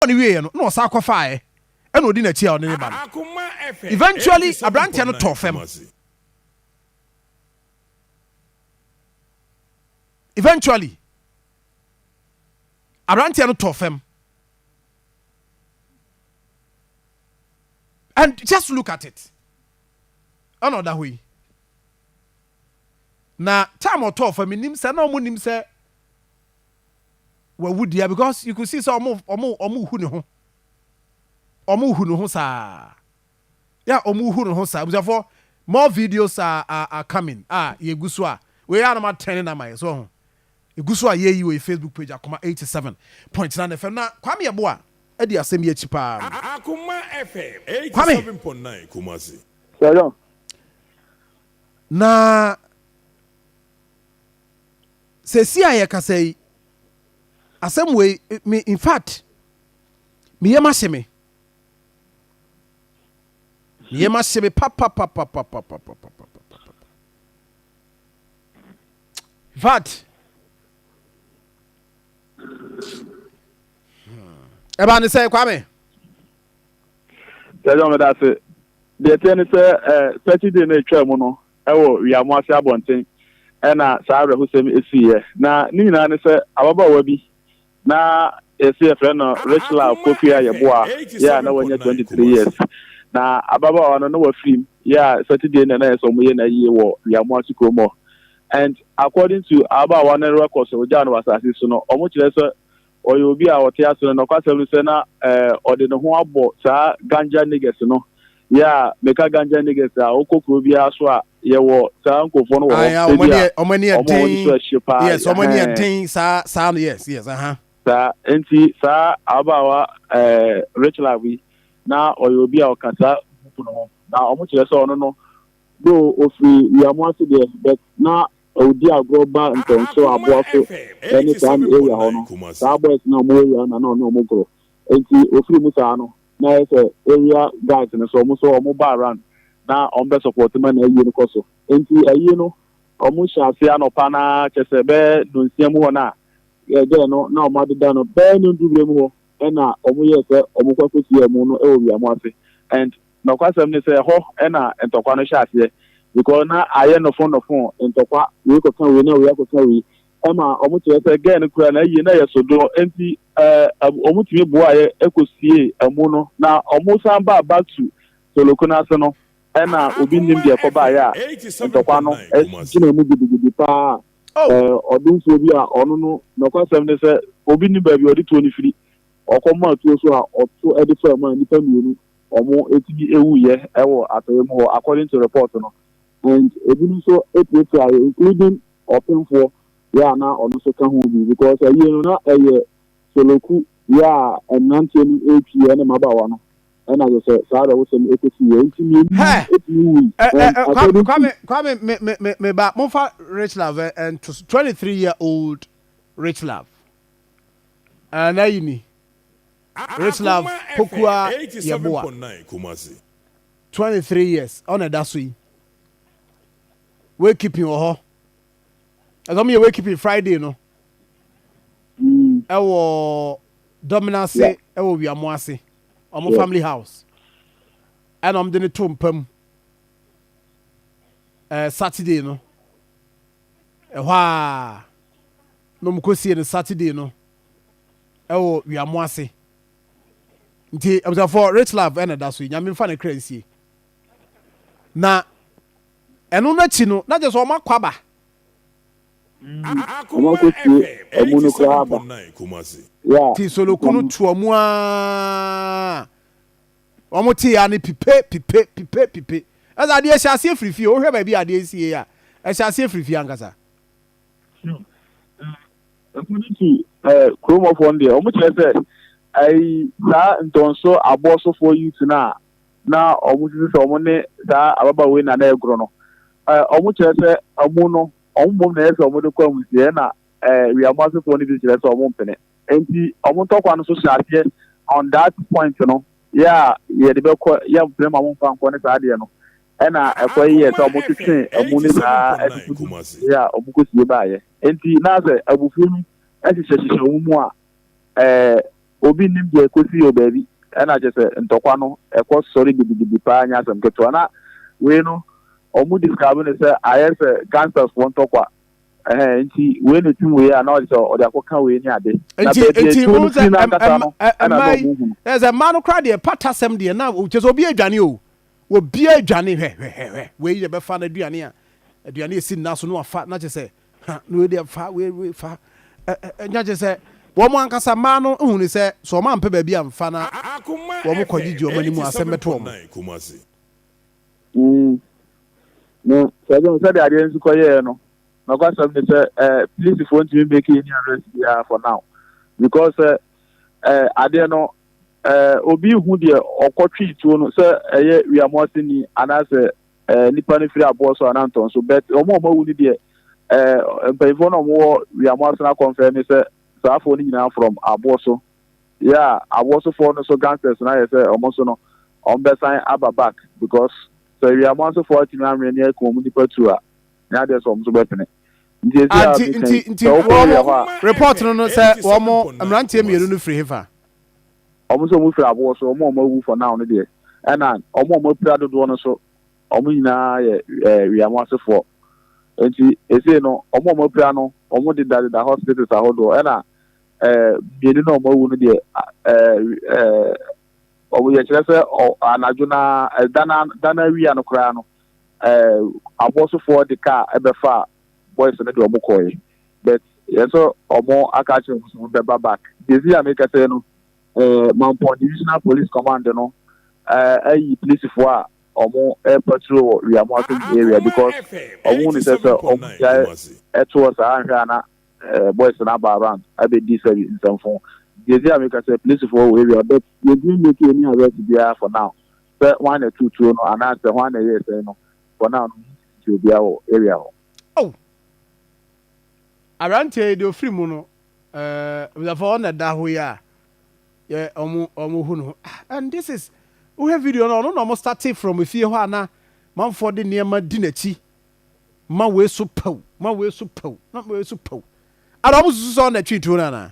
Ɔbɔɔ no wieeɛ no na ɔsan kɔfaaɛ na ɔdi n'akyi a ɔne no ba no. Eventually aberanteɛ no tɔɔ fam. Eventually aberanteɛ no tɔɔ fam. And just look at it. Ɛna ɔda hɔ yi. Na time ɔtɔɔ fam menim sɛ na ɔmo nim sɛ wawu dea because you could see sɛ ɔmo ɔmo ɔmo hu ne ho ɔmo hu ne ho saa yɛ ɔmo hu ne ho saa abusuafoɔ more videos are, are, are coming a yɛgu so a wei yɛ anoma tɛn ne nama yɛ so ho egu so a yɛyi wɔ yɛ facebook page akoma 87.9 fm na kwame ɛbo a adi asɛm yi akyi paa no Akoma FM kwame 87.9 Kumasi. Shalom. na Seesei a yɛkasa yi, asɛm wei, me, in fact, me yam ahye me. Me yam ahye me papapapapapapapapapapa. In fact, ɛbaa ne sɛ Kwame. Sɛ ɛyɛ ɔmo da ase, deɛ ɛteɛ ne sɛ ɛɛ sɛkyi de na etwa mu no, wɔ Wiamoase abɔnten na saa awerɛhosɛm yi siiɛ. Na ne nyinaa ne sɛ ababaawa bi na yɛse yɛfrɛ no Richlove Kofi a yɛboa yɛ a na wanya 23 years. Na ababaawa no na wafirim yɛ a Saturday na na ɛyɛ sɛ wɔyɛ no ayie wɔ Wiamoase kurom hɔ and according to ababaawa no records a wɔgyaa no wɔ asase so no wɔkyerɛ sɛ Ɔyɛ obi a ɔte ase no nokwasɛm ne sɛ na ɔde ne ho abɔ saa ganja niggas no yeah meka ganja niggas a wokɔ kuro biara so a yɛwɔ saa nkurɔfoɔ no wɔ hɔ Ayaa ɔmo ebia ɛne ɔmo ɛne ɔmo a wɔde so ɛden ɛhye paa yes ɔmo ɛne ɛhɛn ɛden saa saa no yes yes ahaa. saa nti saa ababaawa ɛɛ Richlove yi na ɔyɛ obi a ɔka saa group no ho na ɔmo kyerɛ sɛ ɔno no Though ɔfiri Wiamoase deɛ but na ɔdi agorɔ ba Ntɔnso, Aboaso ne saa ne area hɔ no saa boys no a wɔn area no na na ɔne wɔn goro nti ɔfiri mu saa no na ayɛ sɛ area guys no nso wɔn nso wɔn ba around na wɔn bɛ support ma na ayie no kɔ so nti ayie no wɔn hyɛ aseɛ anɔpa no ara kyɛ sɛ bɛyɛ nonsia mu hɔ no a yɛgɛɛ no na wɔn adeda no bɛyɛ no ndubrɛ mu hɔ ɛna wɔn yɛɛ sɛ wɔn kɔ akɔsi wɔn no wɔ Wiamoase and Nokwasɛm ne sɛ ɛhɔ na ntɔkwa no hyɛ aseɛ because na ayɛ nofo nofo ntɔkwa wei kɔka wei na wei akɔka wei ɛma ɔmo kyerɛ sɛ girl no koraa n'ayie no ɛyɛ sodoɔ nti ɛɛ ɔmo tumi boaeɛ ɛkɔ siee amu no na ɔmo san baa back to Toloko no ase no ɛna obi nnim deɛ ɛkɔ baeɛ a ntɔkwa no ɛgyina mu gidigidi paa ɛɛ ɔdomfoɔ bi a ɔno no nokwasɛm ne sɛ obi nnim baabi a ɔde tuo no firi ɔkɔ maa tuo so a ɔto ɛde faa mu a nnipa mmienu wɔatumi awuiɛ wɔ atɔeɛ mu hɔ according to report no and ebinom nso apirapiaeɛ including ɔpemfoɔ yɛ a na ɔno nso ka ho bi because awie no na ɛyɛ soloku yɛ a mmeranteɛ no retwi ɛne mmabaawa no ɛna kyerɛ sɛ saa awerɛhosɛm no ɛkɔsiiɛ nti mmienu no Hɛ! atumi wui Ɛ ɛ and ɛ Kwame according to Kwame Kwame me me me me ba momfa Rich Love ɛ ɛnto so twenty three year old Rich Love ɛɛ n'ayi ni. Reslav Pokuaa Yeboah, twenty three years, ɔno na ɛda so yi. Wakeeping wɔ hɔ. Ɛsɛ wɔn yɛ wakeeping Friday no. Ɛwɔ Dɔmena ase, ɛwɔ Wiamo ase, wɔn family house. Ɛna wɔn de no to mpa mu. Ɛɛ Saturday no. Ɛhɔ a na wɔn kɔ sie no Saturday no. ɛwɔ wiamo ase nti abusuafoɔ rich love ɛna ɛda so yi nyame nfa ne kra nsie na ɛno n'akyi no na kyerɛ sɛ ɔma kɔ aba ɔma kɔ sie ɔmo no koraa aba ya ti soloku no tu ɔmo aa ɔmo te ya ne pipe pipe pipe pipe ɛsɛ adeɛ hyɛ aseɛ firifie wohwɛ baabi adeɛ sie a ɛhyɛ aseɛ firifie ankasa According to ɛɛ eh, kuromɔfoɔ no deɛ wɔn kyerɛ sɛ ɛyi saa ntɔnso aboɔsofoɔ youth no a na wɔn sisi sɛ wɔn ne saa ababaawa yi na na ɛgorɔ no ɛɛ eh, wɔn kyerɛ sɛ wɔn no wɔn mmom na ɛyɛ sɛ wɔn de kɔ amusiɛ na ɛɛ eh, wiamu asefoɔ no bi kyerɛ sɛ wɔn mpene nti wɔn ntɔkwa no so hyɛ aseɛ on that point no yɛ a yɛde bɛkɔ yɛ mpene ma wɔn mfa nkɔ ne saa adeɛ no Ɛna ɛkɔ yi yɛ sɛ wɔtwetwee amu no saa atutu no bere a wɔkosie baeɛ. Enti na sɛ abufuo no hyehyɛhyehyɛ wɔn mu a, ɛɛ, obi nnim deɛ ɛkɔsii wɔ baabi. Ɛna kyerɛ sɛ ntɔkwa no, ɛkɔ sɔre gidigidi paa, ɛnyɛ asɛm ketewa. Na wei no, wɔn describe no sɛ ayɛ sɛ gangstersfoɔ ntɔkwa. Ɛhɛn, enti wei na ɛtim wei a, na ɔde sɛ ɔde akɔka wei ne ade. Na baabi a atuo no firi no ankasa no, ɛna na wɔhunu. Ɛna sɛ mmaa no koraa deɛ, patasɛm deɛ, na kyerɛ sɛ obi adwane o. Obiara dwane, hwɛ, hwɛ, hwɛ, hwɛ, wei deɛ bɛfa n'aduane a, aduane a ɛsi nna so no afa, na kyerɛ sɛ, ha, na wei deɛ fa, wei, wei fa, ɛ, ɛ, ɛ, na kyerɛ sɛ, wɔn ankasa mmaa no hunu sɛ, sɛ wɔn ampɛ baabi amfa na wɔn kɔ gyegye wɔn anim a, asɛm bɛto wɔn. Mm, na sɛ ɛbɛn sɛdeɛ adeɛ nso kɔ yɛɛ no, nɔkwasɛm ne sɛ, ɛ, polisifoɔ ntumi make any arrest biara for now, because sɛ, ɛ, adeɛ no, Ɛɛ, obi nhu deɛ ɔkɔtwee tuo no sɛ ɛyɛ Wiamoaseni anaasɛ ɛɛ nipa no firi aboɔ so anaa ntɔn so, but wɔn a wɔawu no deɛ ɛɛ mpanyinfoɔ no a wɔwɔ Wiamoasena akɔnfɛn no sɛ saa afoɔ no nyinaa from aboɔ so. Yeah, aboɔ sofoɔ no so gangsters no ayɛ sɛ wɔn nso no wɔbɛsan aba back because sɛ Wiamoasefoɔ atumi anwene ne akum wɔn nipa tuo a, ɛnyɛ adeɛ sɛ wɔn nso bɛpene. Ah, nti, nti, nti wɔn report no no sɛ wɔn mmeranteɛ mmienu no firi hefa? Wɔn sɛ wɔn firi aboɔ so, wɔn a wɔn awu for now no deɛ, ɛna wɔn a wɔn apira dodoɔ no so, wɔn nyinaa yɛ ɛɛ wiamo asefoɔ. Nti esei no, wɔn a wɔn apira no, wɔn deda deda hospitals ahodoɔ, ɛna ɛɛ mmienu no a wɔn awu no deɛ, ɛɛ ɛɛ wɔn yɛkyerɛ sɛ ɔ anadwo na ɛda na da na awia no koraa no, eh, abɔsofoɔ de kaa ɛbɛfa boys no de ɔmo kɔɛ but yɛ sɛ ɔmo aka akyerɛ ɔmo sɛ ɔmo bɛba back desi a mekɛsɛ no eh, mampɔn divisional police command no eh, ayi polisifoɔ a ɔmo ɛpatro wɔ wiamoasom area because ɔmo ne sɛ sɛ ɔmo gyae ɛtoɔ saa anhwɛ a na eh, boys no aba around abɛdi sɛbi nsɛmfo desi a mekɛsɛ polisifoɔ wɔ area but yɛdie make any arrest biara for now sɛ hwan na ɛtoo tuo no anaa sɛ hwan na ɛyɛɛ sɛn no, for now no ɔmo ntumi nkyerɛ obiara wɔ area hɔ. Oh! Aberanteɛ yi deɛ ɔfiri mu no, eh, abusuafoɔ ɔno na ɛda hɔ yi a, yɛ ɔmo ɔmo hu no ho. Ah, and this is, wohwɛ video no, ɔno na ɔmo starte from efie hɔ a na manfoɔ de nneɛma di n'akyi, ma wei so pɛw, ma wei so pɛw, ma wei so pɛw. Ana ɔmo susu sɛ ɔno na ɛtwee tuo no anaa?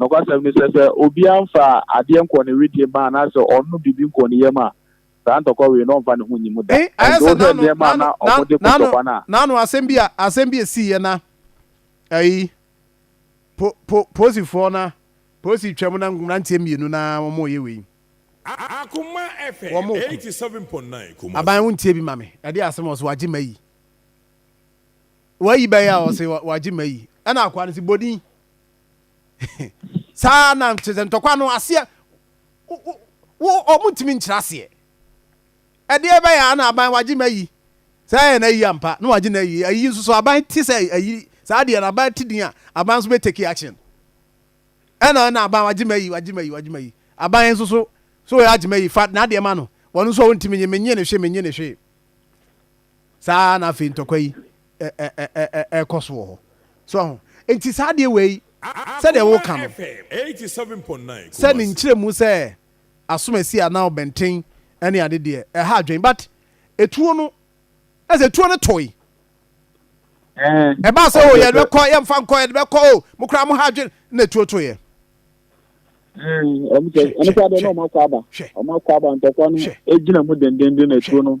Nokwasɛm ne sɛ, sɛ obiara mfa adeɛ nkɔ ne wedeɛ mu anaasɛ ɔnnom biribi nkɔ ne yam a, saa ntɔkwa wei no, ɔmfa ne ho nni mu da. Nanso wohwɛ nneɛma a na wɔde ko ntɔkwa no a. Naano asɛm bi a asɛm bi a esiiɛ na ayi po po polisifoɔ na polisi twam na mmeranteɛ mmienu na wɔreyɛ wei. Akoma FM eighty seven point nine Kumasi. Aban wo ntie bi ma me ɛde asem ɔse wagye mayi wayi bɛyɛ a ɔse wagye mayi ɛna akoa no se bɔ din. saa na kyerɛ sɛ ntɔkwa no aseɛ wɔntumi nkyerɛ aseɛ ɛdeɛ bɛyɛ a na aban wagye ma yi saa yɛ na yi ampa na wagye na yi ayi nso so aban te sɛ ayi saa deɛ na aban te din a aban nso bɛtɛki action ɛna ɛna aban wagye ma yi wagye ma yi wagye ma yi aban nso so so yɛ agye ma yi fa na adeɛ ma no wɔn nso a wɔntumi nye menye ne hwe menye ne hwe saa ara na afei ntɔkwa yi ɛrekɔ so wɔ hɔ so aho nti saa adeɛ wei sɛdeɛ woka no sɛ ne nkyerɛmu sɛ asomasi anaa ɔbɛnten ɛne ade deɛ ɛha adwen but etuo no ɛsɛ etuo no toy ɛbaa sɛ o yɛde bɛkɔ yɛmfa nkɔ yɛde bɛkɔ o mo koraa mo ha adwen na etuo to yɛ. ɛno sɛ adeɛ na ɔmo akɔ aba ɔmo akɔ aba ntɔkwa no egyina mu dendenden na etuo no.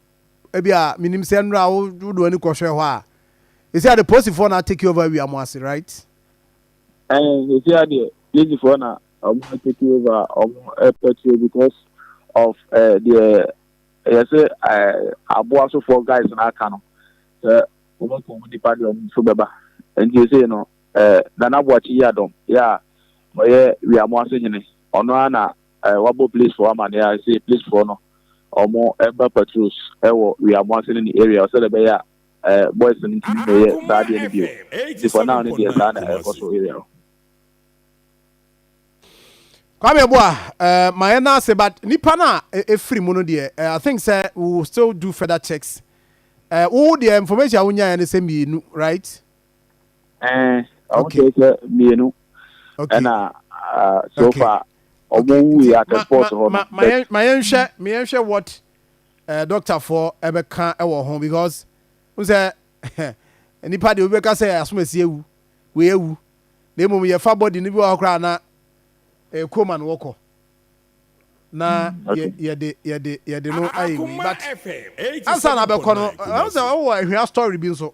ebia minim sɛ nnora a wode w'ani kɔhwɛ hɔ a ɛsia de posifoɔ na take over awia mo ase right ɛn ɛsia deɛ lisifoɔ na ɔmo take over ɔmo ɛpɛtuo because of eh, deɛ ɛyɛ sɛ eh, aboa sofoɔ guys na aka no sɛ ɔmo kɔ ɔmo nipa deɛ ɔmo nso bɛba nti ɛsei no eh, nana boakye yi adɔm yɛ a ɔyɛ wia mo ase hene ɔno ara na Eh, wabɔ place foɔ amaneɛ a, ɛsɛ place foɔ no, ɔmo ɛba patrols ɛwɔ Weamu ase ne ne area, sɛdeɛ ɛbɛyɛ a eh, boys no ntumi mmɛyɛ saa adeɛ no bio. Nti for now no deɛ, saa na ɛrekɔ so area hɔ. Kwame Boa, eh, ma yɛ nan ase, but nipa no a e, efiri mu no deɛ, eh, I think sɛ we will still do further checks. Eh, wo deɛ information a wonyaeɛ no sɛ mmienu, right? ɛn ɔmo kyerɛ sɛ mmienu ɛna ah, so okay. far ɔmo okay. wu yɛ at sport hɔ no ma yɛn ma yɛn hwɛ ma yɛn hwɛ what ɛɛ eh, doctor fo ɛbɛka ɛwɔ ho because n sɛ nipa deɛ obi bɛka sɛ asomasi ewu wei ewu na emu yɛfa body no bi wɔ hɔ koraa na ɛɛ eh, koma no wɔkɔ na mm, yɛ yɛde yɛde yɛde no ayɛ wei but ansa na abɛkɔ no ɛwɔ sɛ ɛwɔ ahwia story bi nso.